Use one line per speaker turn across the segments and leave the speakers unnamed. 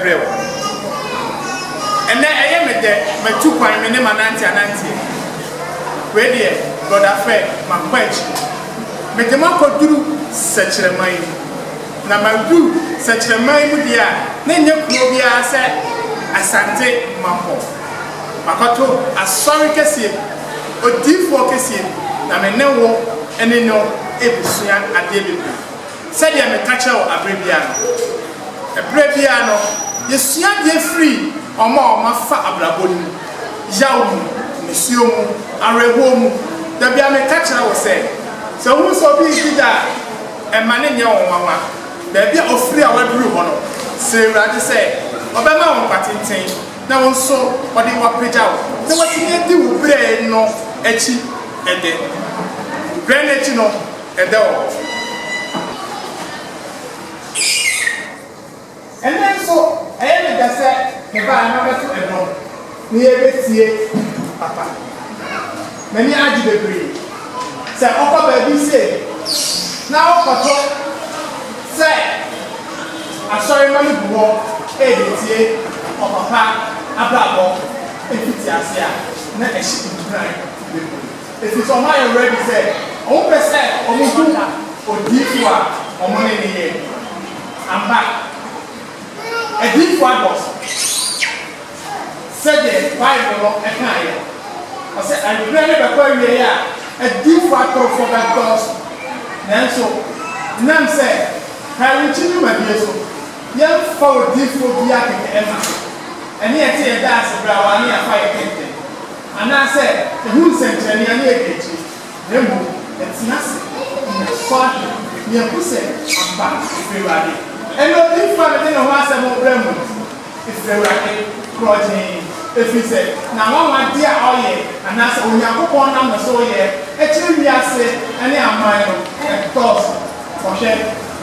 brɛ wo. Ɛnnɛ ɛyɛ me dɛ matu kwan me ne manante ananteɛ. Wei deɛ Brɔda Fred makɔ akyiri. Mede mo akɔduru sɛkyerɛma yi mu. Na maduru sɛkyerɛma yi mu deɛ a na ɛnyɛ kuro biara sɛ Asante makɔ. Makɔto asɔre kɛseɛ bi, odiyifoɔ kɛseɛ bi na me ne wo ne no ɛresua adeɛ bebree. Sɛdeɛ meka kyerɛ wo aberɛ biara no, ɛberɛ biara no, yɛsua adeɛ firi wɔn a wɔafa abrabɔ no mu, yaw mu, nisuo mu, awerɛhoɔ mu. Da biara meka kyerɛ wo sɛ, sɛ wohu sɛ obi redi dwa a, mma no nyɛ wo nwanwa. Baabi a ɔfiri a waduru hɔ no, srɛ Awurade sɛ Ɔbɛma wo nkwa tenten na wo nso Ɔde wo apagya wo na woatumi adi wo berɛ no akyi ɛdɛ. Berɛ no akyi no, Ɛda hɔ. Ɛnnɛ nso, ɛyɛ me dɛ sɛ mebaa ha mabɛto nnwom na yɛrebɛtie papa. M'ani agye bebree. Sɛ wokɔ baabi sei na wokɔto sɛ asɔremma no gu hɔ rebɛtie ɔpapa abrabɔ mfitiaseɛ a, na ɛhyɛ nkuran bebree. Efisɛ wɔn ayɛ ready sɛ wɔn pɛ sɛ wɔn hu odiyifo a wɔn ne no yɛ. Ampa, adiyifo adɔɔso. Sɛdeɛ Bible no kaeɛ no, ɔse ɛberɛ no bɛkɔ awieɛ a adiyifo atorofoɔ bɛdɔɔso. Nanso ɛnam sɛ Kae-Renkye dwumadie so, yɛmfa odiyifoɔ biara kɛkɛ mma so. Ɛne ɛte yɛda ase berɛ a wɔane yɛafa yɛ kɛntɛn. Anaasɛ ehu nsɛnkyerɛnne a na edi akyiri, na mmom ɛtena ase na ɛsɔ ahwɛ, na ehu sɛ ampa efi Awurade. Ɛnna odiyifo a mede ne ho asɛm rebrɛ mo no fi Awurade korɔgyee, efiri sɛ na anwanwade a ɔyɛ, anaasɛ Onyankopɔn nam ne so yɛ, kyerɛ wiase ne aman no dɔɔso. Ɔhwɛ,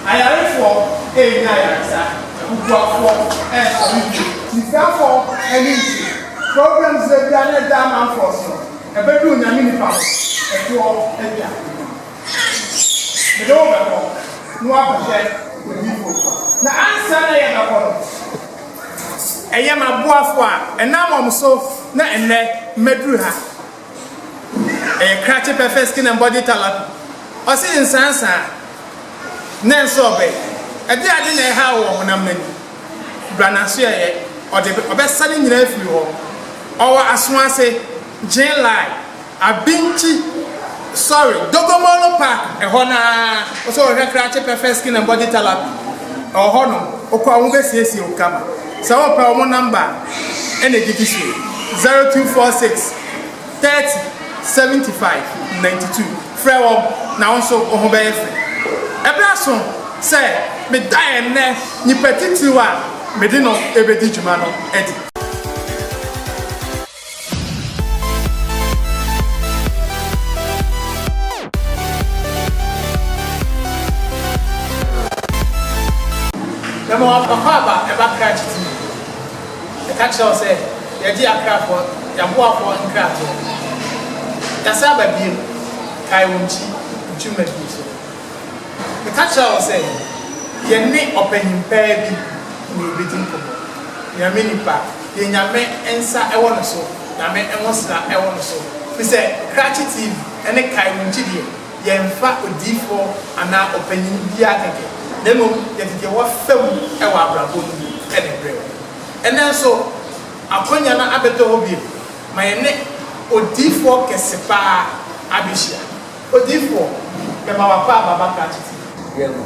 ayarefoɔ renya ayaresa, abubuafoɔ resɔre bio. Sikafoɔ ani nnsɔ. Problems da bia na ɛda amanfoɔ so no ɛbɛduru nyame nipa hɔ ɛtoɔ ɛdi akonnwa mede wo bɛkɔ na wabɛhwɛ odiifo na ansa na yɛbɛkɔ no ɛyɛ maboafo a ɛnam wɔn so na ɛnɛ mɛduru ha ɛyɛ krakye pɛfɛ skin and body talent ɔse nsansa ne nso ɔbɛ ɛde ade na ɛha wɔ honam n'ani Bra n'aso ɛyɛ ɔde ɔbɛsa ne nyinaa afiri hɔ ɔwɔ aso ase Gyen line Abinkyi sorry Dogomolo park ɛhɔ no ara Ɔsɛ ɔhwɛ krakye pɛ fɛ skin and body therapy ɛwɔ hɔ nom Wokɔ a wɔn bɛ siesie wo kama Sɛ wopɛ wɔn number a ɛna ɛdidi so yi zero two four six. 30 75 92 Frɛ wɔn, na wo nso wo ho bɛyɛ fɛ. Ɛberɛ aso sɛ meda ɛnnɛ nipa titiriw a mede no rebɛdi dwuma no adi. Mema wo akwaaba, ɛba krakye ti mu. Yɛka kyerɛ wo sɛ yɛagye yɛakrafoɔ, yɛaboafoɔ nkratoɔ. Yɛasan aba bio, kae wo nkyi, ntwirima bi nso. Meka kyerɛ wo sɛ yɛne ɔpanyin paa bi na yɛbɛdi nkɔmmɔ. Nyame nipa deɛ Nyame nsa wɔ ne so, Nyame nwosra wɔ ne so, firi sɛ krakye TV ne kae wo nkyi deɛ, Yɛmfa odiyifoɔ anaa ɔpanin biara kɛkɛ, na mmom yɛde deɛ wafa mu wɔ abrabɔ no mu na ɛbrɛ wo. Ɛnnɛ nso, akwannya no abɛtɔ hɔ bio ma yɛne odiyifoɔ kɛse pa ara abɛhyia. Odiyifoɔ, mema w'akɔ aba Bakrakyɛ TV. Yɛ no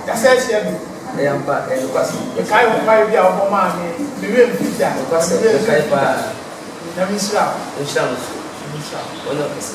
kasa ahyia bi. Ɛyɛ ampa, ɛyɛ nokwasɛm. Mekae wo mpaeɛ bi a wobɔ maa me me werɛ mfiri da. Nokwasɛm, mekae pa ara. Nyame nhyira wo. Ɔnhyira wo nso. Nyame nhyira wo. Ɔnyɛ wo kɛse.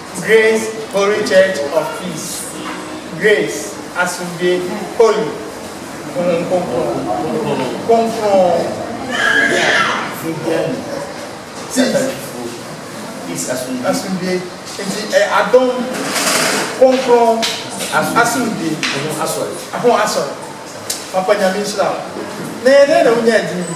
Grace Holy Church of Peace, Grace, Asomdwie, Holy, Honhom Kronkron, Kronkron, Peace,
Asomdwie,
nti ɛyɛ adom, kronkron, asomdwie, ho asɔre, papa Nyame nhyira wo, na yɛdɛn na wonyaa din yi?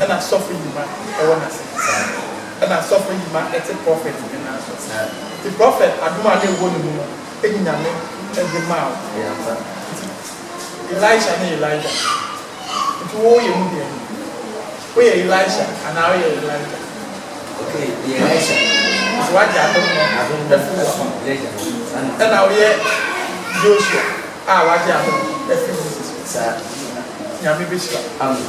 Ɛna asɔfo yima ɛwɔ nase te saa. Ɛna asɔfo yima ɛte prɔfɛt ne nan so saa. Nti prɔfɛt adom a na ɛwɔ ne mu no ɛne Nyame ɛde maa wo. Ɛyɛ ampa. Nti Elisha ne Elijah. Nti wo yɛ mu deɛn? Wo yɛ Elisha anaa wo yɛ Elijah?
Ok meyɛ Elisha.
Nti wagye adom no afiri wo hɔ. Ɛna wo yɛ Joshua a wagye adom afiri Moses hɔ. Saa. Nyame bɛhyira wo. Amen.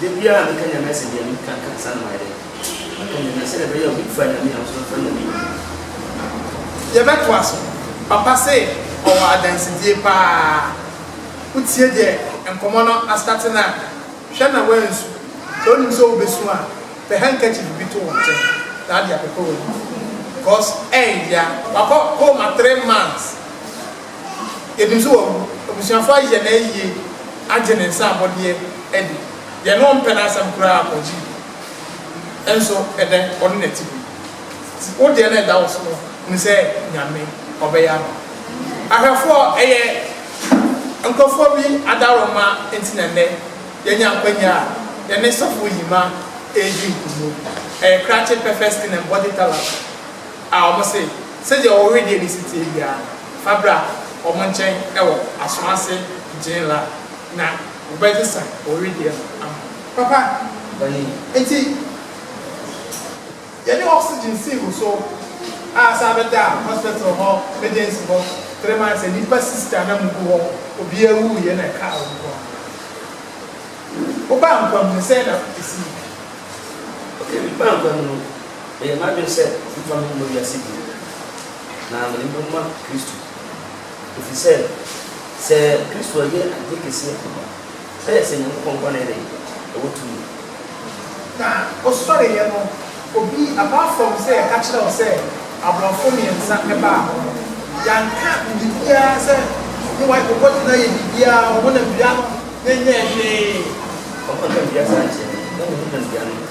Da biara meka Nyame asɛm yi a, meka ka ansa na mayɛ dɛn? Maka Nyame a sɛdeɛ ɛbɛyɛ a obi mfa Nyame a nso mfa Nyame nni
no. Yɛbɛtoa so. Papa se ɔwɔ adansedie paa. Wotie deɛ nkɔmmɔ no astate no a, hwɛ na woansu. Sɛ wonim sɛ wobɛsu a, pɛ handkerchief bi to wo nkyɛn na ade apepa w'ani. Because ɛɛya. Wakɔ home three months. Yɛnim sɛ abusuafoɔ ayɛ no ayie agye ne nsa abɔdeɛ adi, deɛ na ɔmpɛ n'asɛm koraa ɔgye di, nso ɛdɛ ɔne no ati bi. Nti wo deɛ no ɛda wo so no, hunu sɛ Nyame ɔbɛyɛ ama wo. Ahwɛfoɔ ɛyɛ nkorɔfoɔ bi adaworoma nti na nnɛ yɛanya akwanya a yɛne Sɔfo Yima ɛredi nkɔmmɔ yi. Ɛyɛ krakye perfect skin and body talent. A Wɔn se, Sɛdeɛ wɔn wedeɛ no si teɛ biara, fa bra wɔn nkyɛn wɔ asoɔ ase gyee la, na wɔbɛgye sa wɔn wedeɛ no ama wo. Papa, enti Yɛde oxygen sii wo so a saa bɛda hospital hɔ emergency hɔ three months a nnipa sister na mu gu hɔ, obiara wuiɛ na ɛkaa wo nko ara. Wobaa nkwa mu no, sɛn na ɛsii?
Okay, mebaa nkwa mu no, Meyɛ m'adwene sɛ memfa me ho mmɔ wiase bio, na mede me bɛbɔ mu ma Kristo. Ɛfiri sɛ, sɛ Kristo anyɛ adeɛ kɛseɛ ampa, na yɛsɛ Nyankopɔn nkwa na yɛ dɛn? Yɛwɔ tumi. Na
ɔsɔreeɛ no, obi aba fam sɛ yɛka kyerɛɛ wo sɛ aborɔfo mmiɛnsa baa hɔ. Yɛanka biribiara sɛ ne wife ɔbɔdwe no ayɛ biribiara, ɔhonam dua no, yɛnyɛɛ hwee. Ɔhonam
dua saa nkyerɛ me, na menhonam dua no.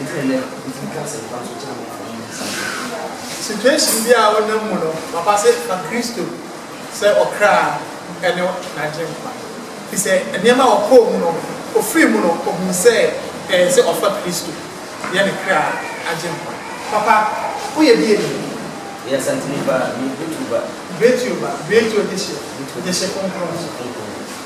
Ɛfiri nnɛ, wotumi ka asɛmpa nso kyerɛ nkurɔfoɔ no nnansa yi. Situation
biara a wonam mu no, papa se fa Kristo sɛ ɔkra ne n'agyenkwa. Ɛfiri sɛ nneɛma a ɔkɔɔ mu no, ɔfirii mu no, ɔhuu sɛ ɛyɛ sɛ ɔfa Kristo yɛ ne kra agyenkwa. Papa, woyɛ bi yɛ dɛn? Meyɛ Asanteni
paa, meyɛ Betuo ba. Betuo ba, Betuo dehyeɛ, dehye kronkron.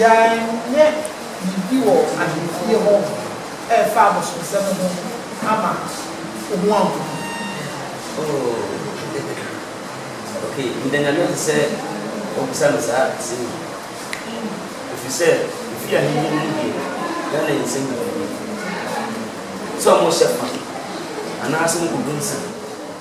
Yɛanyɛ biribi wɔ ahemfie hɔ ɛrefa abosomsɛm ho ama wo ho anhu no.
Oh, okay, meda Nyame ase sɛ wabisa me saa asɛm yi, ɛfiri sɛ mefiri ahemfie no mu deɛ, Ghana yɛ nsɛm bebree, sɛ wɔhyɛ fa, anaasɛ mokɔgu nsa.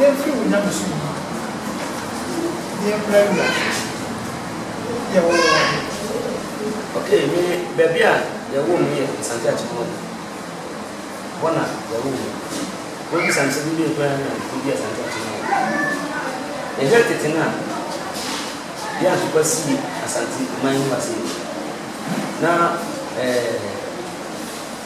Yɛmfiri wo nyamesom mu, yɛmmra wiase no, yɛwɔ wɔ wɔ he?
Okay, me baabi a yɛwoo me yɛ Asante Akyemɔɔ, hɔ na yɛwoo me. Wobisa me sɛ me deɛn koraa na medi Asante Akyemɔɔ. Yɛhwɛ tete no a, yɛ Ansopa sii Asante man no ase no, na ɛɛ.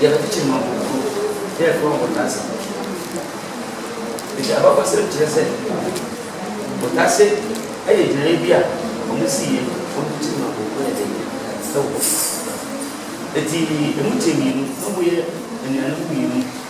Yɛbɛkyekye no akokoɔ na yɛato no abotase. Enti abakɔsɛm kyerɛ sɛ botase yɛ gyinaeɛ bi a wɔsiiɛ ma wɔkyekyere ma akokoɔ yɛ den wɔ hɔ. Enti ɛmu kyɛɛ mmienu na wɔyɛ anuanom mmienu.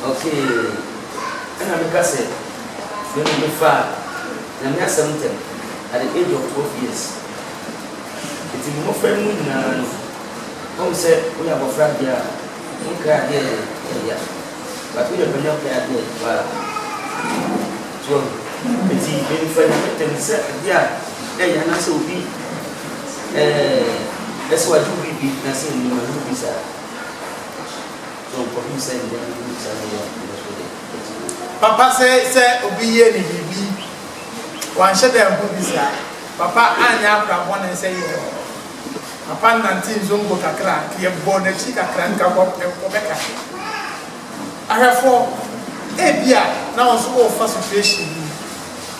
Okay, ɛna meka sɛ, Me no mefaa Nyame asɛm ntɛm at the age of twelve years. Nti me mmɔfra no mu nyinaa no, woahu sɛ woyɛ abɔfra adeɛ a, wonkae adeɛ a ɛyɛ ya, but woyɛ panin a wokae adeɛ a ɛyɛ pa ara. So woahu? Nti me mefaa Nyame ntɛm te sɛ adeɛ a ɛyɛ ya anaasɛ obi ɛɛ ɛsɛ sɛ wagye wo biribi na sɛ ɛnni mu a, ɛnyɛ obi saa. John
kɔhwim sɛ nea ɛho hia saa bere yi a ɛbɛba so de adi mu. Papa se sɛ obi yie no biribi, wanhyɛ da anhu bi saa. Papa anyɛ akora bɔne sɛ yɛn no. Papa nante nzongo kakra, nka yɛbɔɔ n'akyi kakra, nka wɔbɛka he. Ahwɛfoɔ, ebia na wo nso worefa situation bi mu.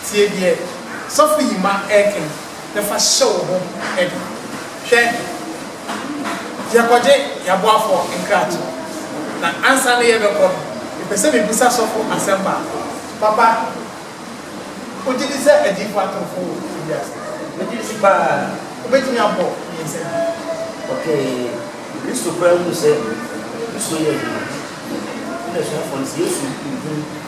Tie deɛ Sɔfo Yima reka yi na fa hyɛ wo ho den. Hwɛ Yɛkɔgye yɛn aboafoɔ nkrate na ansa na yɛbɛkɔ no, mepɛ sɛ mebisa sɔfo asɛm baako. Papa, wogye di sɛ adiyifoɔ atorofo wɔ wiase? Megye di pa ara. Wobɛtumi abɔ me nsam? Okay, Kristo koraa huu sɛ Kristo yɛ adwuma. Ɛna asuafoɔ no se, Yesu nhunu.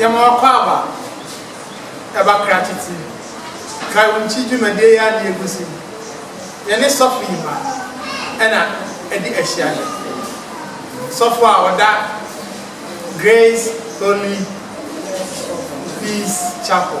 Yɛma Akwaaba ba krakye ti Kae-wo-nkyi dwumadie yɛ adeɛ gu so yi, yɛne sɔfo yi ma na ɛdi ahyiaeɛ. Sɔfo a ɔda Grace Holy Peace Chapel.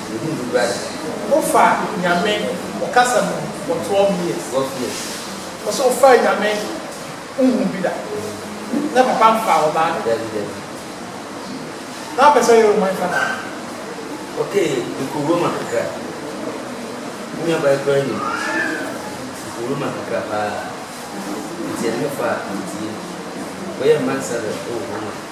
Yɛhu no wura deɛ. Wofa Nyame ɔkasa mu for twelve years. Twelve years.
Ɔsɛ ɔfaa
Nyame honhom bi da. Na papa nfaa ɔbaa da. Dabi dabi. Na wapɛ sɛ ɔyɛ Roman father no. Okay
mekɔ Roma kakra. Me nua baa yi koraa nim. Mekɔ Roma kakra paa. Nti ɛno ne fa a metie. Mekɔ yɛ ambassador wɔ Roma.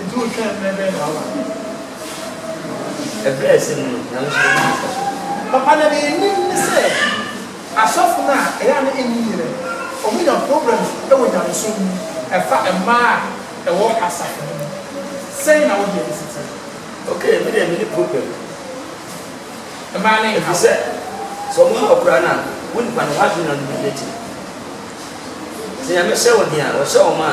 Enti
wotwɛn mmerɛ bɛn
na
woaba bio? Ɛberɛ a ɛsɛ mu no, Nyame nso
bɛnya mfasoɔ. Papa na deɛ yɛnim ne sɛ asɔfo no a ɛyɛ a na ɛnni yerɛ no, wɔn nya problems wɔ nyamesom mu ɛfa mmaa a ɛwɔ asafo no mu. Sɛn na wo deɛ no si teɛ? Ok, me deɛ
menni problem.
Mmaa no nhaw. Ɛfisɛ
sɛ wɔn haw koraa no a, wo nipa no, w'adwene na wode bɛdi akyire. Sɛ Nyame hyɛ wo den a, ɔhyɛ wɔn a,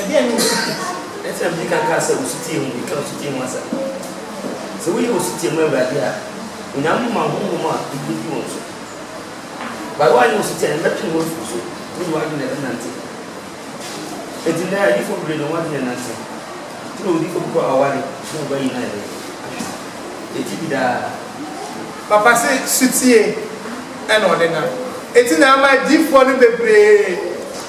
Ɛdeɛn ne osutie? Ɛsɛ sɛ mede
ka kaa sɛ osutie ho bi ka osutie ho asɛm. Sɛ woyɛ osutie ma Awurade a, Onyankopɔn ma honhom a ɛduro di wɔn so. But woanyɛ osutie a, yɛbɛtwe wo afiri so, wo ne w'adwene na ɛbɛnante. Enti nnɛ adiyifoɔ bebree na wɔn adwene renante. Nti na odiyifoɔ bi kɔ aware na ɔba yi na ɛdɛn ahwɛ no. Yɛte bi daa. Papa
se sutie na ɔde nam. Enti na ama adiyifoɔ no bebree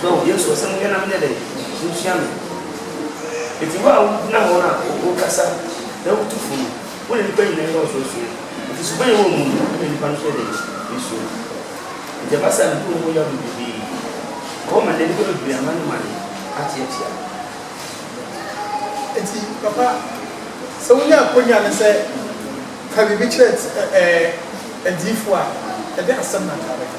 So Yesu asɛm no yɛ na menyɛ dɛn? Sunsua me. Enti wo a wugyina hɔ na wokasa na wutu fo no, wo ne nnipa nyinaa yɛ ɔsorosoro, enti suban a ɛwɔ wo mu no ma nnipa no nso yɛ dɛn? Wosuro wo. Enti ɛba saa a, mibu wo ho yaw bebrebe. Wɔ hɔ ma nnɛ, nnipa bebree amanemane ate atua.
Enti, papa, sɛ wunya akwannya ne sɛ ka biribi kyerɛ ɛɛ adiyifo a, ɛdɛn asɛm na anka wobɛka?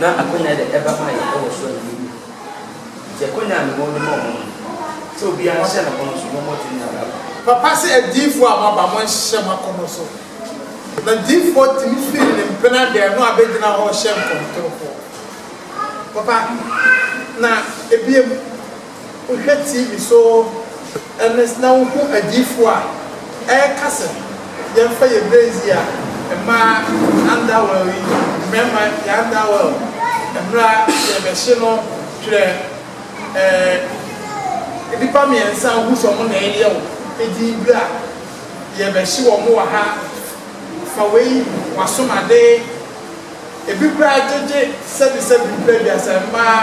Na akwanya a yɛde ba ma yɛn wɔ soro no yɛ hu. Enti akwanya a mewɔ de ma wɔn no, sɛ obiara nhyɛ n'akɔnnɔ so na ɔmmɔ tumi a maba. Papa se adiyifoɔ
a moaba monhyehyɛ mo akɔnnɔ so. Na diyifoɔ tumi firi ne mpena dɛn no abɛgyina hɔ rehyɛ nkɔmtorofɔ. Papa, na ebiem. Wohwɛ TV so ne na wohu adiyifo a ɛreka sɛ yɛmfa yɛn bere nsi a, mmaa anda well yi, mmarima yɛanda well, mmra yɛrebɛhye no twerɛ ɛɛ nnipa mmiɛnsa a wohu sɛ wɔn na ɛreyɛ wo din bere a yɛrebɛhye wɔn wɔ ha, fa wei, w'asom ade. Ebi koraa gyegye sɛbisɛbi mprɛ aduasa mmaa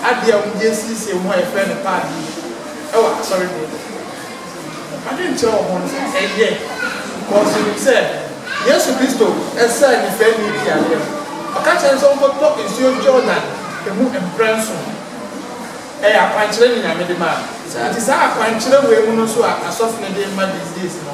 adeɛ a wɔde asiesie wɔn ho a yɛfrɛ no pad yi wɔ asɔredan mu. M'adwenkyerɛ wɔ ho no sɛ ɛyɛ because menim sɛ Yesu Kristo saa nnipaani bi yareɛ no, ɔka kyerɛ no sɛ ɔnkɔtɔ nsuo Jordan mu mprɛ nson. Ɛyɛ akwankyerɛ ne Nyame de maa no. Nti saa akwankyerɛ wei mu no nso a asɔfo no de rema these days no,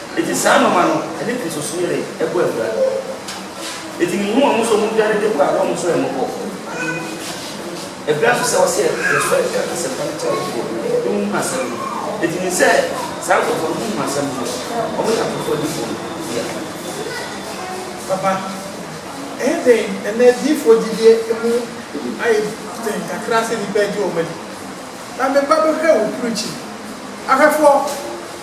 Enti saa nnoɔma no, ɛne Kristosom-yere bɔ abira. Enti mehu wɔn sɛ wɔn dwane de kɔ a wɔn nso remmɔ hɔ. Abira nso sɛ wɔsɛ yɛsɔre ka asɛmpa no kyerɛ afoforɔ na wɔn hunu asɛm no. Enti menim sɛ saa nkorɔfoɔ no, wɔhunu asɛm no no, wɔn yɛ afoforɔ adiyifoɔ no dea.
Papa, ɛyɛ den ɛnnɛ adiyifoɔ gyidie mu ayɛ den kakra sɛ nnipa agye wɔn adi. Na me ba bɛhwɛ wo preaching ahwɛfoɔ.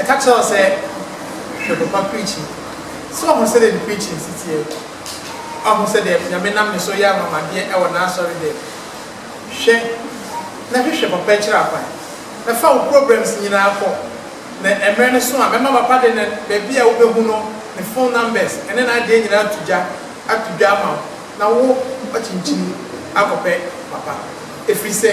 Ɛka kyerɛ wo sɛ hwɛ papa preaching. So wahu sɛdeɛ ne preaching si teɛ? Wahu sɛdeɛ Nyame nam ne so yɛ anwanwadeɛ ɛwɔ n'asɔre dɛm? Hwɛ na hwehwɛ papa akyiri akwan. Na fa wo problems nyinaa kɔ. Na ɛmmerɛ no so a mɛma papa de ne baabi a wobɛhu no ne phone numbers ɛne n'adeɛ nyinaa ato gya ato dwa ama wo na wo akyinkyin akɔpɛ papa. Ɛfiri sɛ.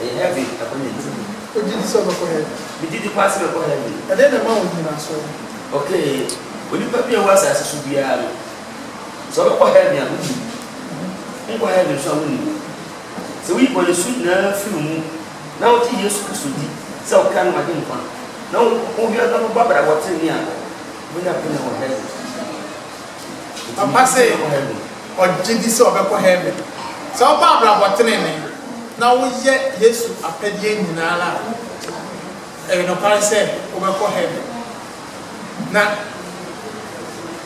Ɛyɛ heaven ɛhɔ na ɛte yi. O gye di sɛ ɔbɛkɔ
heaven. Me gye di paa sɛ bɛkɔ
heaven. Ɛdeɛn na ɛma wo nnyinasoɔ
no? Ok,
onipa biara ɛwɔ asaase so biara no, sɛ ɔbɛkɔ heaven a wonim. Wonkɔ heaven nso a wonim. Sɛ woyi bɔnesu nyinaa firi wo mu na wogye Yesu Kristo di sɛ wo kra ne w'agyenkwa na wo ho biara na wobɔ abrabɔ trenee a, wobɛnya akwanya wɔ heaven.
Papa se ɔgye di sɛ ɔbɛkɔ Heaven. Sɛ wobɔ abrabɔ tenene na woyɛ Yesu apɛdeɛ nyinaa a, ɛyɛ nokware sɛ wobɛkɔ Heaven. Na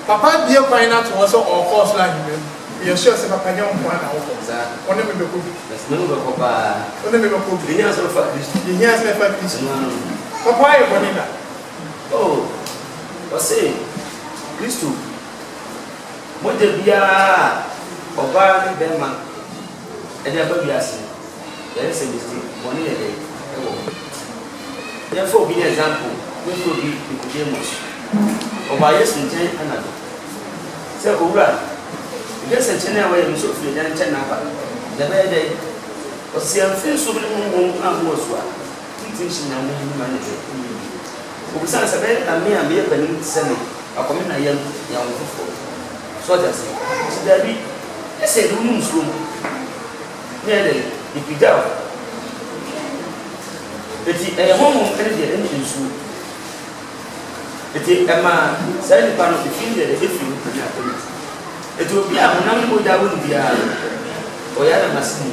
Papa abue kwan no ato hɔ sɛ ɔrekɔ ɔsoro ahennwa mu. Meyɛ sure sɛ Papa nyɛ wo nkoaa na wokɔ. Wo ne me bɛkɔ bi. Wo ne me bɛkɔ paa. Yɛhia sɛ yɛfa Kristo. Papa wayɛ bɔne da? O,
ɔse, Kristo mogya biara a ɔbaa ne bɛrima de aba wiase no, yare sɛ mistake, bɔne yɛ dɛn wɔ ho? Yɛmfa obi ne example, me kuro bi Nicodemus, ɔbaa Yesu nkyɛn anadwo sɛ, Owura, mehwɛ sɛ nkyene a woayɛ no sɛ ofiri agya nkyɛn na aba, na ɛbɛyɛ dɛn? Ɔse, Amfiri nsuo bi ne honhom angu wo so a. Titiriw sɛ nea wɔn nnwuma no yɛ yiye no bi. Obisaa no sɛ, Ɛbɛyɛ dɛn na me a meyɛ panyin te sɛ me akɔm me na yɛn yɛn ho foforo? So ɔte ase? Ɔse, Dabi. Ese ɛde wo ne nsuo mu na ɛyɛ dɛn? Yɛpagyaw. Enti ɛyɛ honhom ne deɛ ɛne nsuo. Enti ɛmaa saa nipa no efi ne dɛdɛ efiri ne panyin akɔm mu. Enti obi a honam ne mogya wɔ no biara no, ɔyɛ ananase mu.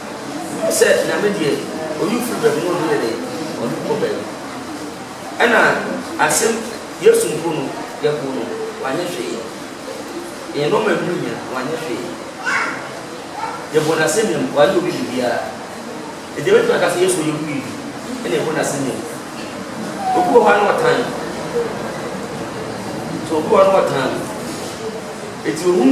Sɛ Nyame deɛ oyi firi baabi na ɔde yɛ dɛn ɔde kɔ baabi ɛna asɛm Yesu mpo no yɛboo no wanyɛ hwee yɛn nnoɔma ɛho hia wanyɛ hwee yɛboo no asɛnnua mu wayɛ obi biribiara ɛti yɛbɛtumi aka sɛ Yesu ɔyɛ obi biribi ɛna yɛboo no asɛnnua mu obi wɔ hɔ a na ɔtan so obi wɔ hɔ a na ɔtan ɛti ohun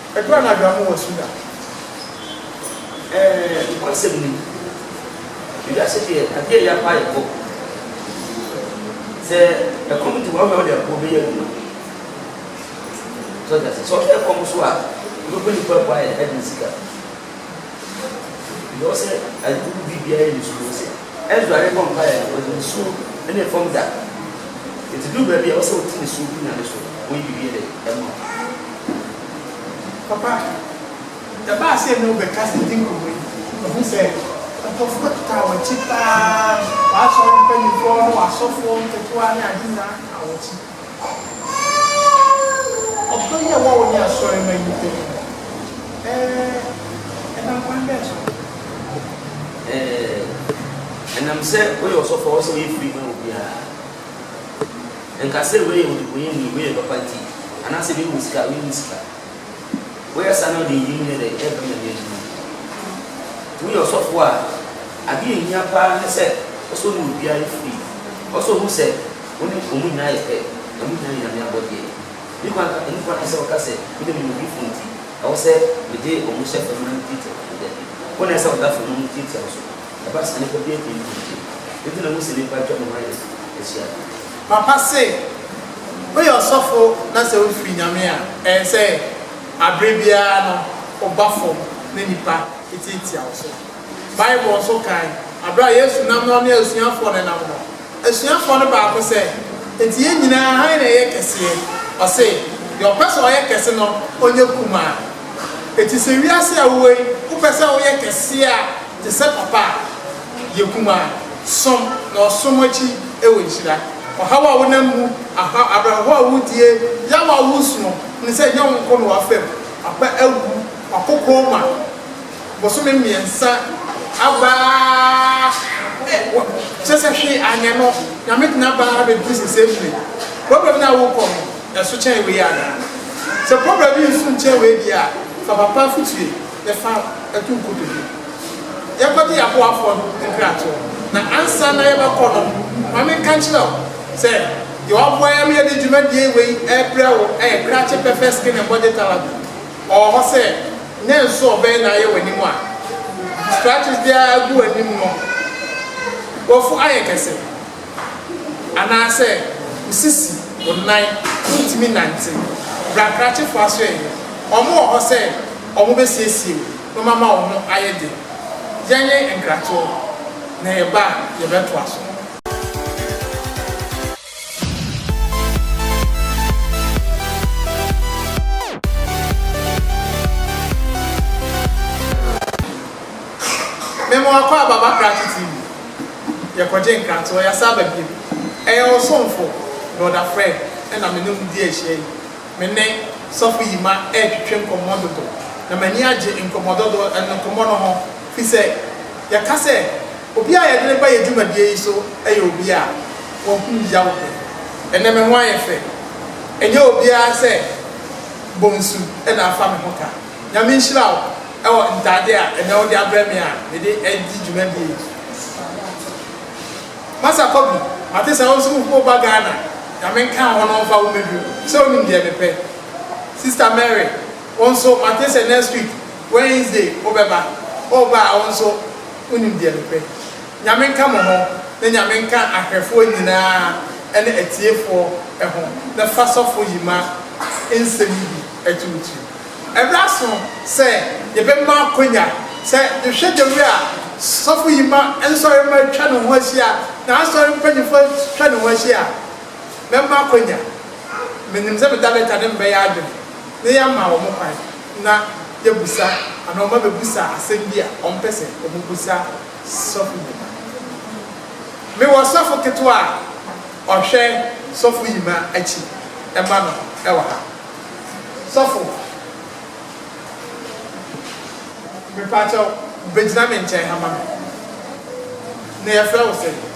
Edu anadwoa mo wɔ Sudan.
Ɛɛ nokwasɛm ni. Ewiase deɛ adeɛ a ɛyɛ paa yɛ kɔm. Sɛ ɛkɔm de wo a wobɛhwɛ de aboɔ bɛyɛ adwuma. So ate aseɛ. Sɛ ɔhwɛ ɛkɔm so a wobɛbɔ nipa abu ayɛ de ne sika. Ɛwɔ sɛ ayi wobiribiara yɛ ne sukuu ase. Ezra rebɔ mpaeɛ no, ɔde ne su ne ne fam da. Enti duru baabi a ɛwɔ sɛ ɔte ne su gu Nyame so, ɔyi biribi de ma wo. Papa,
ɛbaa sɛ na wobɛka saa ti nkɔmmɔ yi, mahu sɛ nkurɔfo bɛtotaa w'akyi paa, w'asɔre mpanimfoɔ ne w'asɔfoɔ nketewa ne ade nyinaa taa w'akyi. Ɔdɔ yi a ɛwɔ wo ne asɔremma yi ntam no,
ɛnam kwan bɛn so? Ɛnam sɛ woyɛ ɔsɔfo a ɛwɔ sɛ woyɛ firi ma obiara. Ɛnka sɛ wei yɛ ɔdebɔneyɛni, wei yɛ papa nti, anaasɛ wei wɔ sika, wei nni sika. Woyɛ saa na wode eyi mu yɛ dɛn? Ɛrebɔ Nyame adwuma. Nti woyɛ ɔsɔfo a, ade a ɛhia paa ne sɛ, ɛwɔ sɛ wo ne obiara yɛ firi. Ɛwɔ sɛ ohu sɛ. Wɔn nso wɔn nyinaa yɛ pɛ, na wɔn nyinaa yɛ Nyame abɔdeɛ. Me kwan ka emu fa ɛsɛ ɔka sɛ, Mede me nodifoɔ nti, ɛwɔ sɛ mede wɔn hyɛ fam na metiatia wɔn dɛ. Wɔn na ɛsɛ ɔda fam na metiatia wɔn so. Ɛba saa nnipa biara ntumi ntu mpire. Enti na Mose nnipa atwa ne ho ayɛ so ahyia no. Papa se,
Woyɛ ɔsɔfo na sɛ wofiri Nyame a, ɛyɛ sɛ aberɛ biara no woba fam na nnipa tiatia wo so. Bible nso kae bere a Yesu nam na ɔne asuafoɔ no nam no. Asuafoɔ no baako sɛ, Enti yɛn nyinaa hann na ɛyɛ kɛseɛ? Ɔse, Deɛ ɔpɛ sɛ ɔyɛ kɛse no, ɔnyɛ kumaa. Enti sɛ wiase a wowɔ yi, wopɛ sɛ woyɛ kɛseɛ a, te sɛ papa a, yɛ kumaa. Som, na ɔsom akyi wɔ nhyira. Ɔhaw a wonam mu, aha, awerɛhoɔ a wodie, yaw a wosuo, hunu sɛ ɛnyɛ wo nko na wafam, wapɛ awu, wakokɔ ma. bosome mmiɛnsa aba ara wɔ kyerɛ sɛ hwee anyɛ no Nyame tena aba ara bɛduru sesei mmerɛ yi problem no a wokɔ no ɛso kyɛn wei anaa sɛ problem no nso nkyɛn wei deɛ a fa papa afotue na fa to nkotodwe yɛkɔgye yɛaboafoɔ no nkratoɔ na ansa na yɛbɛkɔ no ma menka nkyerɛ wo sɛ deɛ waboa yɛ ma yɛde dwumadie wei ɛrebrɛ wo ɛyɛ krakye pɛpɛ skin and body therapy. ɔwɔ hɔ sɛ nnɛ nso ɔbɛyɛ n'ayɛ w'anim a scratches biara agu w'anim no w'afu ayɛ kɛse anaasɛ wo sisi, wo nan, wontumi nnante. Bra krakyefo asɔɛe no, wɔn wɔ hɔ sɛ wɔn bɛsiesie wo na wɔn ama wo ho ayɛ den. Yɛnwe nkratoɔ na yɛba a yɛbɛtoa so. Mema wakɔ aba ba krakye TV. Yɛkɔgye nkratoɔ, yɛasan aba bio. Ɛyɛ wo somfo Brɔda Fred na me ne wo redi ahyia yi. Me ne Sɔfo Yima retwetwe nkɔmmɔ dodo, na m'ani agye nkɔmmɔ dodo, nkɔmmɔ no ho, firi sɛ yɛka sɛ, Obi a yɛde no ba yɛn dwumadie yi so yɛ obi a wahunu yaw pɛn. Ɛnnɛ me ho ayɛ fɛ. Ɛnyɛ obiara sɛ bonsu na afa me ho ka. Nyame nhyira wo wɔ ntaadeɛ a ɛnnɛ wode abrɛ me a mede redi dwumadie yi. Masa Kobi, mate sɛ wo nso wo ba Ghana. Nyame nka wo ho na ɔmfa wo mmɛduru. Sɛ wonim deɛ mepɛ. Sista Mary, wo nso mate sɛ next week Wednesday wobɛba. Woba a wo nso. Wonim deɛ mepɛ. Nyame nka mo ho na Nyame nka ahwɛfoɔ nyinaa ɛne atiefoɔ ɛho na fa sɔfo Yima nsɛm yi bi ɛtuutu ɛberɛ aso sɛ yɛbɛ ma akwanya sɛ yɛhwɛ the way a sɔfo Yima nsɔre mma atwa ne ho ahyia na asɔre mpanyinfoɔ atwa ne ho ahyia a mɛma akwanya menim sɛ meda lɛta ne mbɛyɛ adwene na yɛama wɔn kwan na yɛabusa anaa wɔn abɛbusa asɛm bi a wɔmpɛ sɛ wɔbusa sɔfo Yima. Mewɔ sɔfo ketewa a ɔhwɛ sɔfo Yima akyi ma no wɔ ha. Sɔfo, mepa kyɛw bɛgyina me nkyɛn ha ma me. Na yɛfrɛ wo sɛn?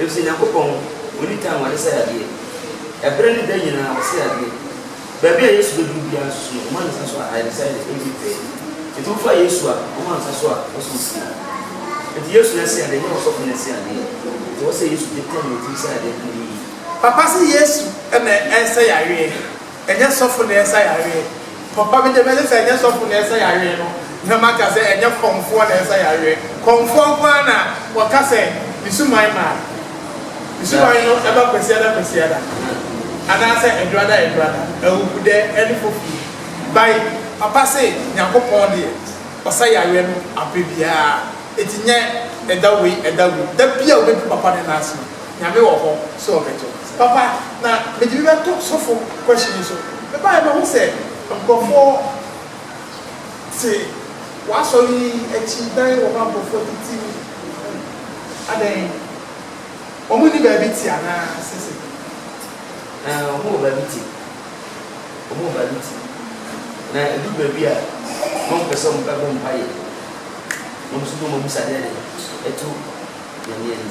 Efisɛ Nyankopɔn wɔ nitan wɔ ne sɛeadeɛ. Bere ne da nyinaa ɔsɛe adeɛ. Baabi a Yesu bɛduru biara nso so no, ɔma ne nsa so a, ayaresa yɛ, ɛnti pɛɛ. Enti wofa Yesu a, ɔma nsa so a, ɔsɔ wo sie. Enti Yesu no ɛsɛeadeɛ, ɛnyɛ ɔsɔfo no ɛsɛeadeɛ. Enti ɔsɛ Yesu de tɛn na ɔtumi sɛe adeɛ ka no yiye. Papa
se Yesu na ɛnsɛ yareɛ. Ɛnyɛ sɔfo na ɛsa yareɛ. Papa megye mese sɛ ɛnyɛ sɔfo na ɛsa yareɛ no na maka sɛ ɛnyɛ kɔmfoɔ na ɛsa yareɛ. Kɔmfoɔ nko ara na wɔka sɛ ne suman ma ne suman no ba Kwasiada Kwasiada anaasɛ Adurada Adurada, Awubudɛ ne Fofie bae. Papa se Nyankopɔn deɛ ɔsa yareɛ no aberɛ biara enti nyɛ ɛda wei ɛda wei. Da biara wobɛdu papa no nan ase no Nyame wɔ hɔ sɛ ɔbɛto. Papa na mede bi bɛto sofo question yi so. Me baeɛ mahu sɛ nkorɔfoɔ te w'asɔre yi akyi dan wɔ hɔ a nkorɔfoɔ tete mu adɛn? Wɔn nni baabi te anaa sese? Ɛɛ
wɔn wɔ baabi te. Wɔn wɔ baabi te. Na ɛduru baabi a na wɔn pɛ sɛ wɔn bɛbɔ mpaeɛ. Wɔn nso bom abisa dɛ ɛto Nyame ani.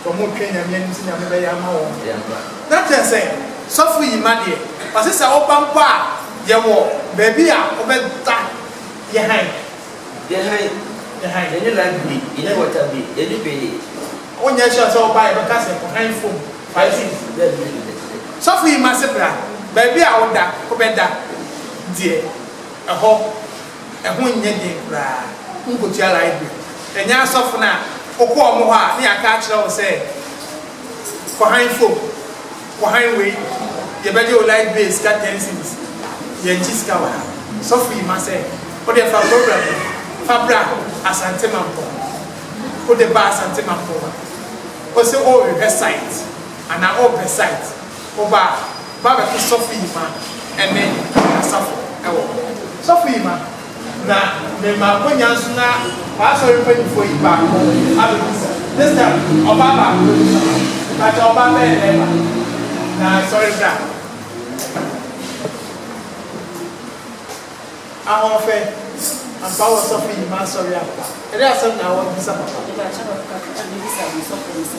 Sɛ ɔmo retwɛn Nyame anim sɛ Nyame bɛyɛ ama wɔn no, na kyerɛ sɛ sɔfo yi ma deɛ ɔse sɛ woba mpo a yɛwɔ baabi a wobɛda yɛ hann. Yɛ hann. Yɛ hann. Yɛne light bi, yɛne water bi, yɛne hwee. Wonyɛ sure sɛ woba a yɛbɛka sɛ ɔhann fom fighting. Daabi daabi daabi. Sɔfo yi ma se bra, baabi a woda wobɛda deɛ ɛhɔ. Ɛho nnyɛ den koraa. Wonkotua library. Ɛnyɛ asɔfo no a wokɔ wɔn hɔ a na yɛaka akyerɛ wo sɛ kɔhan fom, kɔhan wei, yɛbɛgye wo library sika ten cedis. Yɛnkye sika wɔ ha. Sɔfo yi ma sɛ, Wodeɛ fa program no fa bra Asante Mampɔ. Wode ba Asante Mampɔ a, wose worehwehwɛ site anaa worepɛ site Ɔba ba bɛto sɔfo Yima ne asafo wɔ hɔ. Sɔfo Yima na ne makonya nso na w'asɔre mpanyinfoɔ yi baako abɛbisa. This time ɔbaa baako bɛbisa ma wo. Mpakyɛw ɔbaa bɛyɛ dɛn ma me? Na sɔre bra. Ahoɔfɛ ampa wɔ sɔfo Yima asɔre ampa? Ɛdeɛ asɛm na w'abisa papa? Mpakyɛw papa, mebisa wɔ sɔfo no sɛ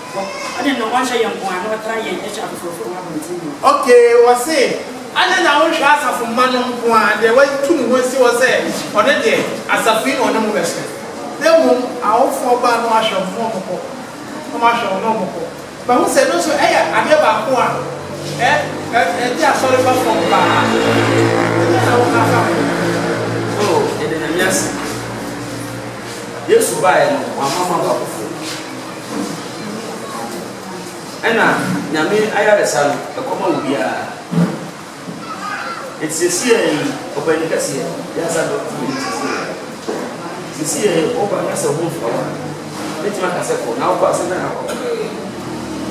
Bɔ, ɔne no ɔnhyɛ yɛn nko ara na ɔtra yɛn akyi afoforofo wɔ abɔnten mu no. Okay, ɔse, adɛn na wonhwɛ asafo mma no nko ara, deɛ watu ne ho asi hɔ sɛ ɔno deɛ asafo yi na ɔne mo bɛhyɛ, na mmom awofoɔ baa na wahwɛ wɔn na wɔn kɔ, na wɔn ahwɛ wɔn na wɔn kɔ. Mahu sɛ ɛno nso ɛyɛ adeɛ baako a ɛ, ɛ, ɛde asɔre ba fam paa. Ɛdeɛn na woka fa
ho? Oh, yɛda Nyame ase. Yesu baeɛ no, wamma mo aba foforo. Ɛna Nyame ayaresa no ɛkɔma obiara. Nti sesiɛ yi ɔpani kɛseɛ Yasa Dɔk tumi de sesiɛ yi. Sesiɛ yi woba na sɛ woho fɔw a, mɛtumi aka sɛ kɔ. Na wokɔ a sɛ dɛn na wokɔ yɛ?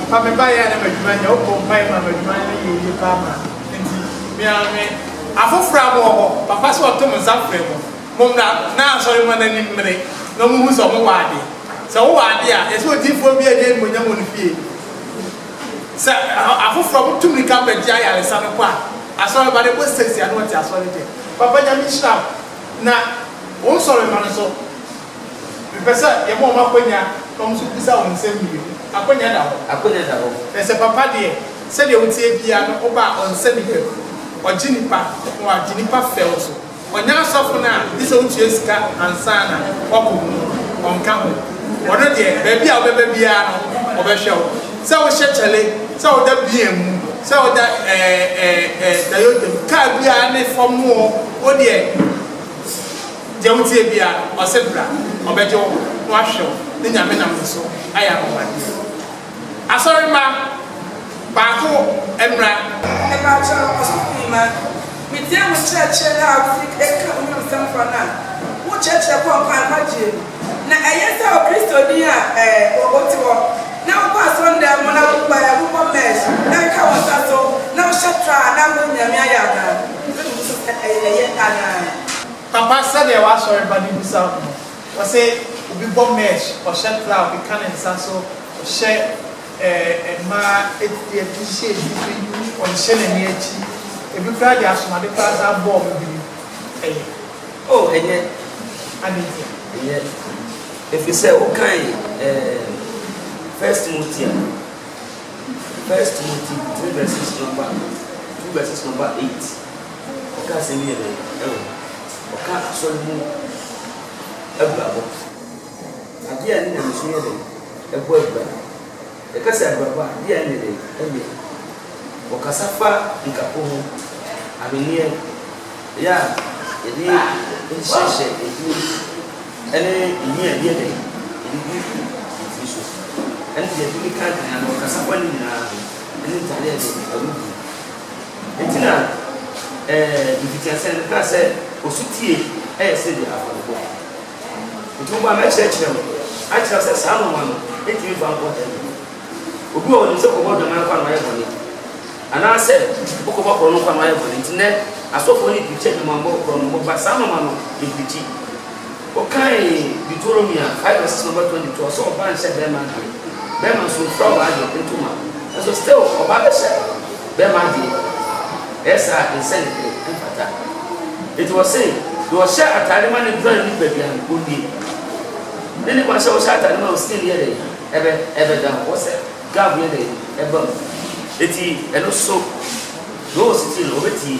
Papa
me baeɛ a na m'adwuma nyɛ, wobɔ mpaeɛ ma m'adwuma no yɛ yie paa ma nti me ara me. Afoforɔ a wɔwɔ hɔ, papa sɛ wɔto me nsa frɛ mo. Mommra na asɔre mma no anim mmere na ɔmmohu sɛ ɔmowɔ ade. Sɛ wowɔ ade a, ɛsɛ odiyifoɔ biara nni animuonyam wɔ ne fie. Sɛ afoforɔ a motu mmirika bɛgye ayaresa no kɔ a, asɔre ba no ɛbɔ sɛsi a na ɔte asɔre deɛ. Papa Nyame nhyira wo na wo nsɔre mma no so. Mepɛ sɛ yɛma wɔn akwanya na wɔn nso bisa wɔn nsɛm mmienu. Akwanya da hɔ? Akwanya da hɔ. Na sɛ papa deɛ, sɛdeɛ woteɛ biara no, woba a ɔnsɛ nnipa bi. Ɔgye nnipa na wagye nnipa fɛw nso. Ɔnyɛ asɔfo no a, gye sɛ wotua sika ansa na wakɔ mu no, ɔnka ho. Ɔno deɛ, baabi a wobɛba biara no, ɔbɛhwɛ wo. Sɛ wohyɛ kyale, sɛ woda beer mu, sɛ woda ɛɛ ɛɛ ɛɛ Toyota mu, kaa biara ne fam o, wo deɛ, deɛ woteɛ biara, ɔse bra, ɔbɛgye wo na wahwɛ wo, ne Nyame nam ne so ayɛ anwanwadeɛ. Asɔremma baako mmra. Mepakyɛw,
ɔsɔfomma, mitie wo nkyerɛkyerɛ no a wufi ka wo Wimsɛm fã no a wokyerɛkyerɛ kɔ nkwa a nkwagyeɛ mu. Na ɛyɛ sɛ Okristoni a wote hɔ na wokɔ asɔndan mu na wopae, wobɔ mesh na ɛka wo nsa so na wohyɛ tra a na wo Nyame ayɛ anaa? Wobɛbu me so sɛ ɛyɛ anaa?
Papa, sɛdeɛ w'asɔremma no bisa wo no, Ɔsɛ obi bɔ mesh, ɔhyɛ plow keka ne nsa so, ɔhyɛ ɛɛ mmaa ɛɛ t-shirt bi, ɔnhyɛ n'ani akyi, ebi koraa de asomade koraa saa bɔɔ me biri. Ɛyɛ. Oh,
ɛyɛ. Adɛn ntia?
Ɛyɛ.
Ɛfiri sɛ wokan ɛɛ First Timothy a, First Timothy three verses number two verses number eight. Ɔka asɛm bi yɛ dɛn wɔ hɔ? Ɔka asɔre mu abirabɔ. Adeɛ a ɛne nyamesom yɛ dɛn? Ɛbɔ abira. Yɛka sɛ abirabɔ a, adeɛ a ɛnyɛ dɛn? Ɛnyɛ. Ɔkasa fa nkako ho, ahweneɛ, yɛ a yɛde hyehyɛ yɛn tiri mu, ɛne nhwi a yɛde yɛ dɛn? Yɛde gu yɛn tiri so, ɛne deɛ yɛde keka aduane. Ɔkasa fa ne nyinaa ho, ɛne ntaadeɛ a yɛde bɔ awudie. Enti na mfitiaseɛ no mekaa sɛ ɔsotie yɛ sɛ deɛ afɔrebɔ. Enti mo ba mɛkyerɛkyerɛ mo akyerɛ wo sɛ saa nwoma no ntumi mfa nkɔ hell bio. Obi wɔ hɔ ɔnim sɛ ɔkɔbɔ dwaman kwa na wayɛ bɔne anaasɛ ɔkɔbɔ korɔno kwa na wayɛ bɔne. Enti nnɛ asɔfoɔ no preachi adwamanbɔ, korɔnobɔ but saa nwoma no yɛmpreachi. Wokan Deuteronomy a, Bible se sɛ ɔbɛtɔ de tu ɔsɛ ɔba nhyɛ bɛma ade, bɛma nso mfura w'ade ntoma. Nanso still ɔba bɛhyɛ bɛma ade, ɛyɛ saa a ɛnsɛ ne bere, ɛmfata. Enti wɔse deɛ ɔhyɛ ataade ma ne bra ne nipadua no ɔnnie. Ne ne ba sɛ ɔhyɛ ataade ma wo skin yɛ dɛn? Ɛbɛ ɛbɛ down, wɔ sɛ glove yɛ dɛn? Ɛba mu. Enti ɛno so, though still ɔbɛtie.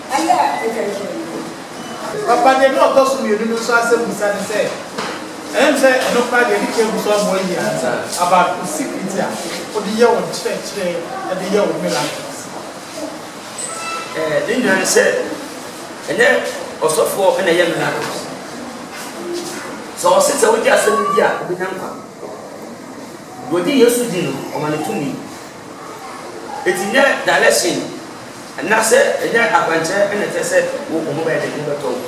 Ɛyɛ a atwa ahyia yi o. Papa deɛ na ɔtɔ so mmienu no nso asɛmmisa ne sɛ, Ɛyɛ me sɛ ɛno koraa deɛ ɛde cable so amoa yie ansa about wo security a wode yɛ wo nkyerɛkyerɛ de yɛ wo miracles?
Ne nyinaa ne sɛ, ɛnyɛ ɔsɔfoɔ na ɛyɛ miracles. Sɛ ɔse sɛ wogye asɛm no di a wobɛnya nkwa. Deɛ ɔgye Yesu di no, ɔma no tumi. Enti nyɛ dalɛsen anaasɛ nyɛ akwankyerɛ na ɛkyerɛ sɛ wo ho bɛyɛ den, wo ho bɛtɔ wo.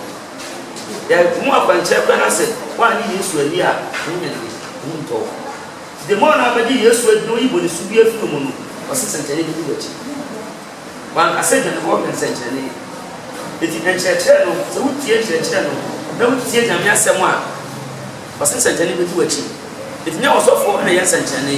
Yɛ mu akwankyerɛ koraa na sɛ woannye Yesu anni a, wo ho nyɛ den, wo ho ntɔ wo. Enti the more na wobɛgye Yesu adi na woyi bɔnesu biara afi wo mu no, ɔse sɛnkyerɛnne bɛdi w'akyi. Wanka sɛ dwanefoɔ hwɛ nsɛnkyerɛnne. Enti nkyerɛkyerɛ no, sɛ wotie nkyerɛkyerɛ no na wotie Nyame asɛm a, ɔse sɛnkyerɛnne bɛdi w'akyi. Enti nyɛ ɔsɔfoɔ na yɛ nsɛnkyerɛnne.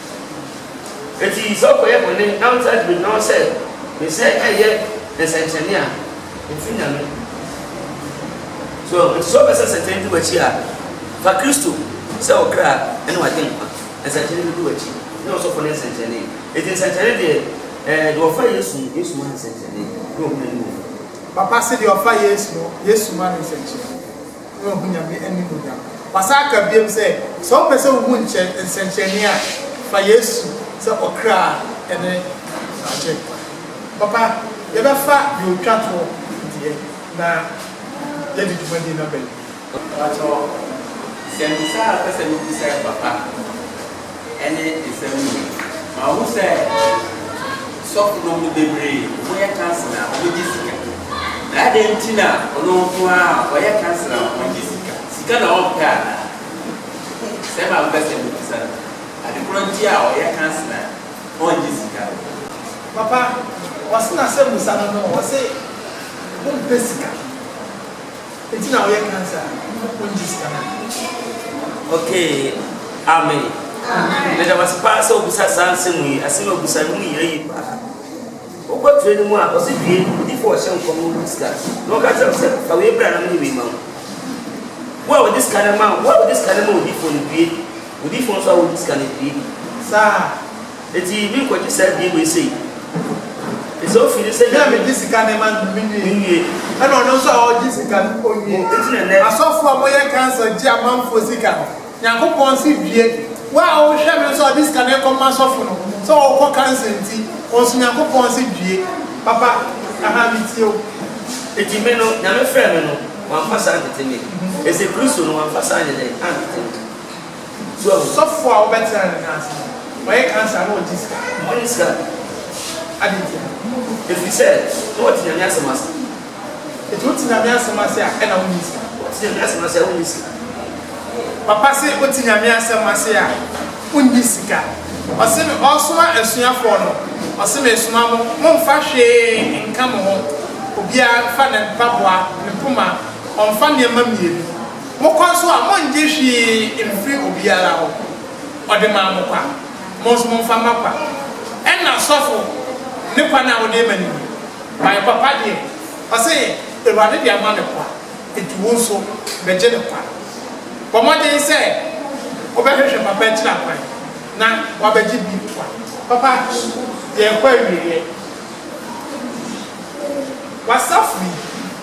Enti sɛ ɔkɔyɛ bɔne na ɔnsan de begyina hɔ sɛ ne sɛ ɛyɛ nsɛnkyerɛnne a, ɛmfiri Nyame. So enti sɛ ɔpɛ sɛ nsɛnkyerɛnne di w'akyi a, fa Kristo sɛ wo kra ne w'agyenkwa. Nsɛnkyerɛnne bɛdi w'akyi ne ɔsɔfo ne nsɛnkyerɛnne. Enti nsɛnkyerɛnne deɛ, ɛɛ, deɛ ɔfa Yesu no, Yesu ma no nsɛnkyerɛnne na ɔhu n'animuonyam. Papa se deɛ
ɔfa Yesu no, Yesu ma no nsɛnkyerɛnne. na wahu Nyame animuonyam. Wasan ka biom sɛ, sɛ wopɛ sɛ wuhu nkyɛ nsɛnkyerɛnne a, fa Yesu sɛ ɔkra a ɛne Agyenkwa. Papa, yɛbɛfa deɛ ɔtwa toɔ deɛ na yɛadi dwumadie no aba mu. Mpakyɛw,
nsɛmmisa a pɛ sɛ mebisa yɛ, Papa. ɛne nsɛm no mu. Mahu sɛ sɔfonom no bebree wɔyɛ council a wɔgye sika. Na adɛn nti na ɔno nko ara a ɔyɛ council a ɔngye sika? Sika na ɔmpɛ anaa? Sɛm a mepɛ sɛ mubisa no, ade korɔ nti a ɔyɛ council a ɔngye sika no. Papa,
ɔse na sɛ musa no no ɔse ompɛ sika. Enti na ɔyɛ cancer
a Nyankopɔn ngye sika no a. Okay amen meda wase paa sɛ obisa saa nsɛm yi asɛm a obisa no mu yɛ yie paa wokɔ tire no mu a ɔse due odifo ɔhyɛ nkɔm no wodi sika na ɔka kyerɛ sɛ fa wei bra na mene wei ma wo wo a wodi sika no ma wo a wodi sika no ma odifo no due odifo nso a wodi sika no due saa
Enti me
nkɔgye saa bie wei sei. Enti sɛ ofi ne sɛ Nyame. Me a megye sika ne ma
no me nwie. Me nwie. Ɛna ɔno nso a ɔgye sika no ɔnwie. O, enti na nɛ. Asɔfoɔ a wɔyɛ cancer gye amanfoɔ sika no, Nyankopɔn se due. Wo a wohwɛ me nso a ɔde sika no rekɔ ma asɔfo no, sɛ ɔrekɔ cancer nti, wo nso Nyankopɔn se due. Papa, aha, metie wo. Enti me
no, Nyame frɛɛ me no, wamfa saa antete me. Ese Kristo no, wamfa saa anyɛ dɛn? Antete me. So ɔsɔfo a wobɛtra
ne nan ase no, ɔyɛ cancer na ɔgye sika? Ɔnyɛ sika.
Adɛn nti
a? Ɛfiri
sɛ na ɔte Nyame asɛm ase. Nti
wote Nyame asɛm ase a ɛna wonyɛ sika? Wote Nyame asɛm ase a
wonyɛ sika.
Papa se wote Nyame asɛm ase a wonyɛ sika. Ɔse me ɔresoma asuafoɔ no, ɔse mesoma mo, momfa hwee nka mo ho, obiara mfa ne mpaboa, ne poma, ɔmfa nneɛma mmienu. Mo kɔ nso a, monngye hwee mmfiri obiara hɔ. Ɔde maa mo kwa, mo nso momfa mma kwa. Ɛnna sɔfo no ne kwa no a ɔde rema no ni, Mayɛ papa deɛ, ɔse, Awurade de ama me kwa, enti wo nso bɛgye no kwa. Bɔ mmɔden sɛ wobɛhwehwɛ papa akyiri akwan na woabɛgye bi kwa. Papa, yɛrekɔ awieɛ. W'asafo yi.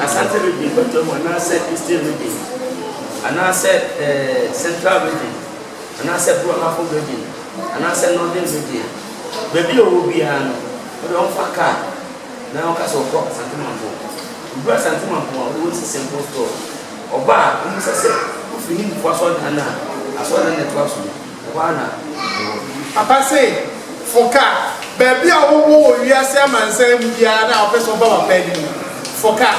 Asante Region bɔtɔ mu anaasɛ Eastern Region anaasɛ Central Region anaasɛ Brɔhafo Region anaasɛ Northern Region, baabi a ɔwɔ biara no, ɔde ɔmfa car na ɔka sɛ ɔkɔ Asante Mampong. Ɔduru Asante Mampong a, ɔde wɔ si Simple Store. Ɔba a, ɔmmisa sɛ, Wofi he? Mpoa Asɔredan no a? Asɔredan na ɛtoa so no. Ɛhɔ ara na mewɔ. Papa se foka baabi
a wowɔ wɔ wiase amansan mu biara na wopɛ sɛ woba papa anim no, foka.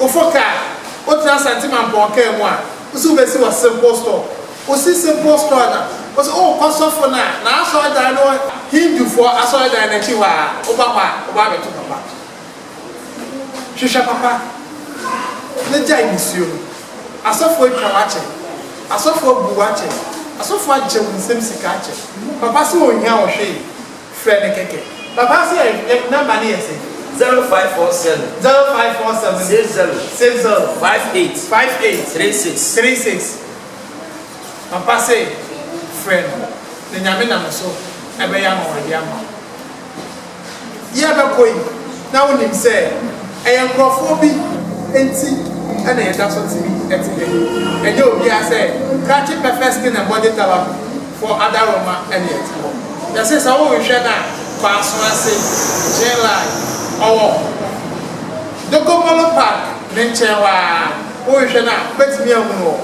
Wofo ka a, wotra Asante Mampɔn kaa mu a, wo se wobɛsi wɔ Simple Store. Wosi Simple Store no a, wo se wokɔ sɔfo no a n'asɔredan no wɔ Hindufoɔ asɔredan no akyi hɔ a, woba hɔ a, wobɛabɛto papa. Hwehwɛ papa na gyae nisuo no. Asɔfo atwa wo akyɛ. Asɔfo abu wo akyɛ. Asɔfo akyɛ wo nsam sika akyɛ. Papa se ɔnhia wo hwee. Frɛ no kɛkɛ. Papa se yɛ number no yɛ sɛn? Zero five four seven.
Zero five four seven. Six zero.
Six zero. Five
eight. Five eight. Three six. Three six.
Papa se frɛ no na Nyame nam so ɛbɛyɛ ama wo ɔde ama wo. Yɛrebɛkɔ yi, na wonim sɛ ɛyɛ nkurɔfoɔ bi nti na yɛda so te te ha yi. Ɛnyɛ obiara sɛ krakye pɛfɛ skin and body colour no for adaroma na yɛte hɔ. Yɛse sɛ wohwehwɛ no a, kɔ aso ase, Gin Line, ɔwɔ Dogombolo Park ne nkyɛn hɔ ara, wohwehwɛ no a, wobɛtumi ahunu wɔ hɔ.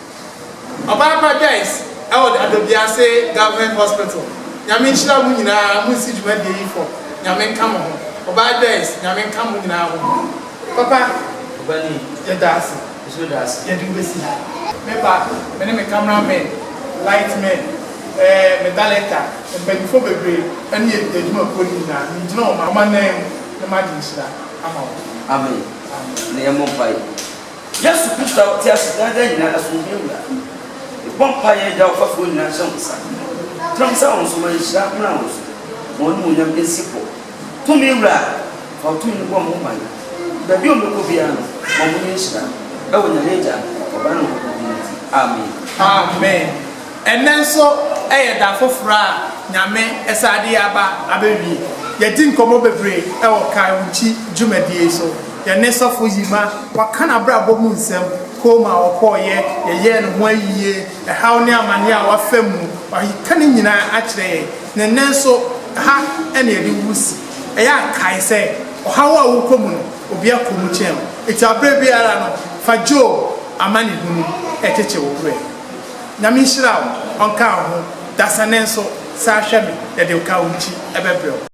Ɔbaa pa Joyce ɛwɔ Dadobiase government hospital Nyame nhyira mo nyinaa mo nsi dwumadie yi fɔ Nyame nka mo ho Ɔbaa Joyce Nyame nka mo nyinaa ho Papa
yɛda ase
yɛde wo
bɛsi ha
Me ba me ne me camera men light men ɛɛ me dalɛkta mpanyinfoɔ bebree ɛne adwuma kuo no nyinaa me gyina wɔn anan mu ne ma de nhyira ama wɔn Amen
Amen na yɛmmɔ mpaeɛ. Yesu Kristo a ɔte ase daa daa nyinaa asomdwoe mmra mo mu. Mebɔ mpae a ɛda ɔfafoɔ nyinaa hyɛ mo nsa no mu. Tra mo sɛ wɔn so, ma nhyira mmra wɔn so, ma wɔn animuonyam nsi hɔ. Tumi Wura, fa wo tumi no bɔ mo ho ban. Baabi a wɔbɛkɔ biara no, ma wɔnyɛ nhyira. Ɛwɔ Nyame Agya, Ɔba ne Honhom Kronkron din nti, amen. Amen.
Ɛnnɛ nso yɛ da foforɔ a Nyame san de yɛn aba abɛwie. Yɛadi nkɔmmɔ bebree wɔ Kae Wo Nkyi dwumadie yi so. Yɛne Sɔfo Yima, waka n'abrabɔ mu nsɛm, komm a ɔkɔeɛ, yɛyɛɛ ne ho ayie, ɛhaw ne amaneɛ a wafa mu, waka ne nyinaa akyerɛ yɛn. Na ɛnnɛ nso ha na yɛde wo si. Ɛyɛ a kae sɛ, ɔhaw a wokɔ mu no, obi akɔ mu kyɛn wo. Enti aberɛ biara no, fa Job amanehunu kyekye wo werɛ. Nyame nhyira wo ɔnka wo ho dasane nso saa hwɛ me yɛde wo ka wo nkyi ɛbɛbrɛ wo.